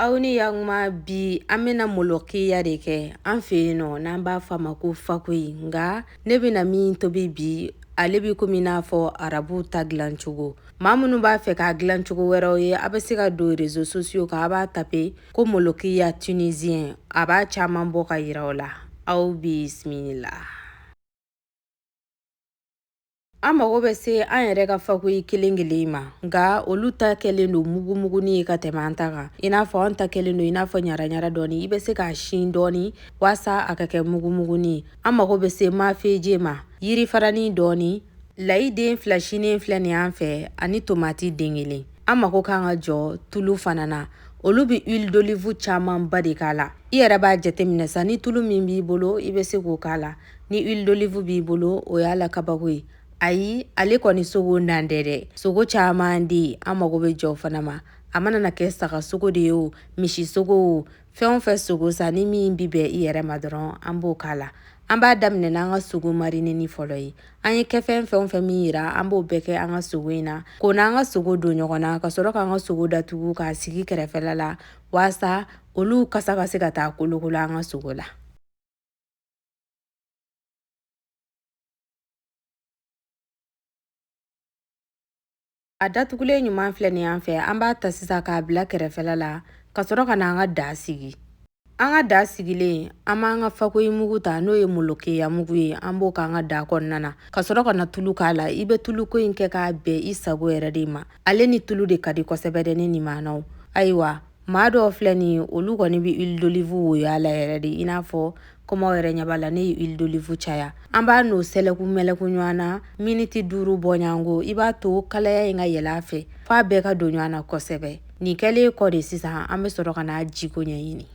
aw ni yantuma bi an bɛna molokiya de kɛ an fɛ yen nɔ n'an b'a fɔ a ma ko fakoyi nka ne bɛna min tobi bi ale bɛ komi n'a fɔ arabu ta dilancogo maa minnu b'a fɛ k'a dilancogo wɛrɛw ye a bɛ se ka don réseaux sociaux kan a b'a taper ko molokiya tunisien a b'a caman bɔ ka yira aw la aw bisimila an mago bɛ se an yɛrɛ ka fakoyi kelen kelen ma nka olu ta kɛlen don mugumugunin ye ka tɛmɛ an ta kan i n'a fɔ an ta kɛlen don i n'a fɔ ɲaraɲara dɔɔni i bɛ se k'a sin dɔɔni waasa a ka kɛ mugumugunin ye an mago bɛ se mafeje ma yiri faranin dɔɔni layi den fila sinen filɛ nin an fɛ ani tomati den kelen an mago kan ka jɔ tulu fana na olu bɛ huile d'olive camanba de k'a la i yɛrɛ b'a jateminɛ sa ni tulu min b'i bolo i bɛ se k'o k'a la ni huile d'olive b'i bolo o y'a la kabako ye ayi ale kɔni sogo nan tɛ dɛ sogo caman de ye an mago bɛ jɔ fana ma a mana na kɛ saga sogo de ye o misi sogo o fɛn o fɛn sogo sa ni min bɛ bɛn i yɛrɛ ma dɔrɔn an b'o k'a la an b'a daminɛ n'an ka sogo marineni fɔlɔ ye an ye kɛfɛn fɛn o fɛn min yira an b'o bɛɛ kɛ an ka sogo in na k'o n'an ka sogo don ɲɔgɔn na ka sɔrɔ k'an ka sogo datugu k'a sigi kɛrɛfɛla la waasa olu kasa ka se ka taa kolokolo an ka sogo la A datugulen ɲuman filɛ nin an fɛ an b'a ta sisan k'a bila kɛrɛfɛla la ka sɔrɔ ka na an ka da sigi an ka da sigilen an b'an ka fakoyi mugu ta n'o ye molokeya mugu ye an b'o k'an ka da kɔnɔna na ka sɔrɔ ka na tulu k'a la i bɛ tuluko in kɛ k'a bɛn i sago yɛrɛ de ma ale ni tulu de ka di kosɛbɛ dɛ ne nin maanaw ayiwa maa dɔw filɛ nin olu kɔni bɛ huile d'olive woyo a la yɛrɛ de i n'a fɔ komi aw yɛrɛ ɲɛ b'a la ne ye huile d'olive caya an b'a n'o sɛlɛku mɛlɛku ɲɔgɔn na miniti duuru bɔɲango i b'a to kalaya in ka yɛlɛ a fɛ f'a bɛɛ ka don ɲɔgɔn na kosɛbɛ nin kɛlen kɔ de sisan an bɛ sɔrɔ ka n'a jiko ɲɛɲini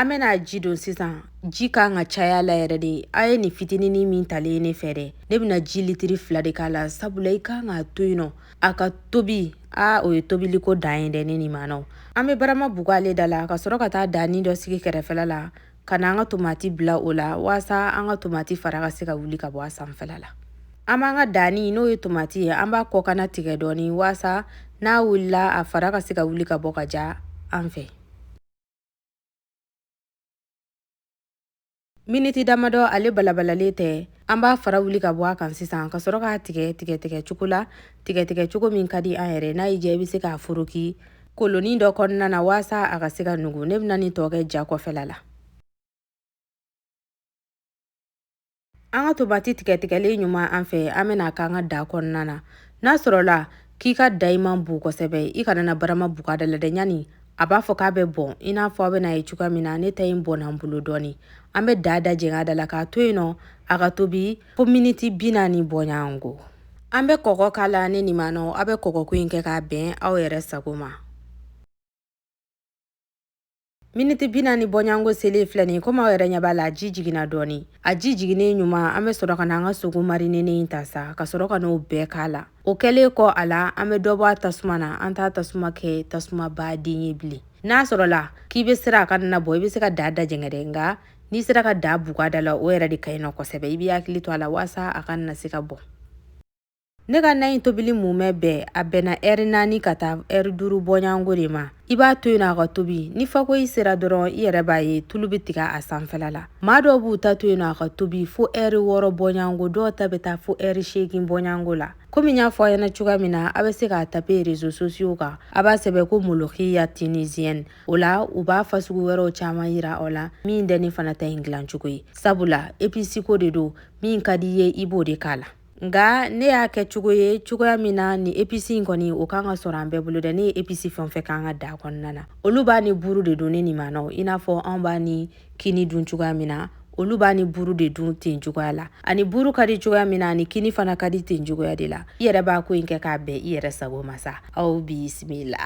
An bɛna ji don sisan ji ka kan ka caya a la yɛrɛ de a ye nin fitinin min talen ne fɛ dɛ ne bɛna ji litiri fila de k'a la sabula i ka kan k'a to yen nɔ a ka tobi aa o ye tobili ko dan ye dɛ ne nin maanaw an bɛ barama bugu ale da la ka sɔrɔ ka taa danin dɔ sigi kɛrɛfɛla la ka na an ka tomati bila o la waasa an ka tomati fara ka se ka wuli ka bɔ a sanfɛla la an b'an ka danni n'o ye tomati ye an b'a kɔkanna tigɛ dɔɔnin waasa n'a wulila a fara ka se ka wuli ka bɔ ka ja an fɛ miniti damadɔ ale balabalalen tɛ an b'a fara wuli ka bɔ a kan sisan ka sɔrɔ k'a tigɛ tigɛtigɛ cogo la tigɛtigɛ cogo min ka di an yɛrɛ n'a y'i diya i bɛ se k'a foroki kolonin dɔ kɔnɔna na waasa a ka se ka nugu ne bɛna nin tɔ kɛ ja kɔfɛla la An ka tomati tigɛtigɛlen ɲuman an fɛ an bɛna k'an ka daa kɔnɔna na n'a sɔrɔla k'i ka daa in man bon kosɛbɛ i kana na barama buga da la dɛ ɲani a b'a fɔ k'a bɛ bɔn i n'a fɔ aw bɛna a ye cogoya min na ne ta in bɔnna n bolo dɔɔni an bɛ daa dajɛngɛ a da la k'a to yen nɔ a ka tobi fo miniti bi naani bɔɲɔgɔnko an bɛ kɔgɔ k'a la ne nin maanaw aw bɛ kɔgɔko in kɛ k'a bɛn aw yɛrɛ sago ma miniti bi naani bɔɲango selen filɛ nin komi aw yɛrɛ ɲɛ b'a la a ji jiginna dɔɔni a ji jiginnen ɲuman an bɛ sɔrɔ ka na an ka sogo marinenen in ta sa ka sɔrɔ ka n'o bɛɛ k'a la o kɛlen kɔ a la an bɛ dɔ bɔ a tasuma na an t'a tasuma kɛ tasumaba de ye bilen n'a sɔrɔla k'i bɛ siran a kana na bɔn i bɛ se ka daa dajɛngɛ dɛ nka n'i sera ka daa buga da la o yɛrɛ de ka ɲi nɔ kosɛbɛ i b'i hakili to a la walasa a kana se ka bɔn Ne ka na in tobili mumɛ bɛɛ a bɛnna eri naani ka taa eri duuru bɔɲɔgɔnko de ma i b'a to yen a ka tobi ni fakoyi sera dɔrɔn i yɛrɛ b'a ye tulu bɛ tigɛ a sanfɛla la maa dɔw b'u ta to yen a ka tobi fo eri wɔɔrɔ bɔɲɔgɔnko dɔw ta bɛ taa fo eri seegin bɔɲɔgɔnko la komi n y'a fɔ aw ɲɛna cogoya min na aw bɛ se k'a tape rezo sosiyo kan a b'a sɛbɛn ko molokiya tinisiyɛni o la u b'a fasugu wɛrɛw caman yira aw la min tɛ ne fana ta in dilancogo ye sabula episiko de don min ka di i ye i b'o de k'a la nka ne y'a kɛ cogo ye cogoya min na ni episi in kɔni o kan ka sɔrɔ an bɛɛ bolo dɛ ne ye episi fɛn fɛn k'an ka daa kɔnɔna na olu b'a ni buru de dun ne nin maanaw i n'a fɔ anw b'a ni kini dun cogoya min na olu b'a ni buru de dun ten cogoya la a ni buru ka di cogoya min na a ni kini fana ka di ten cogoya de la i yɛrɛ b'a ko in kɛ k'a bɛn i yɛrɛ sago ma sa aw bisimila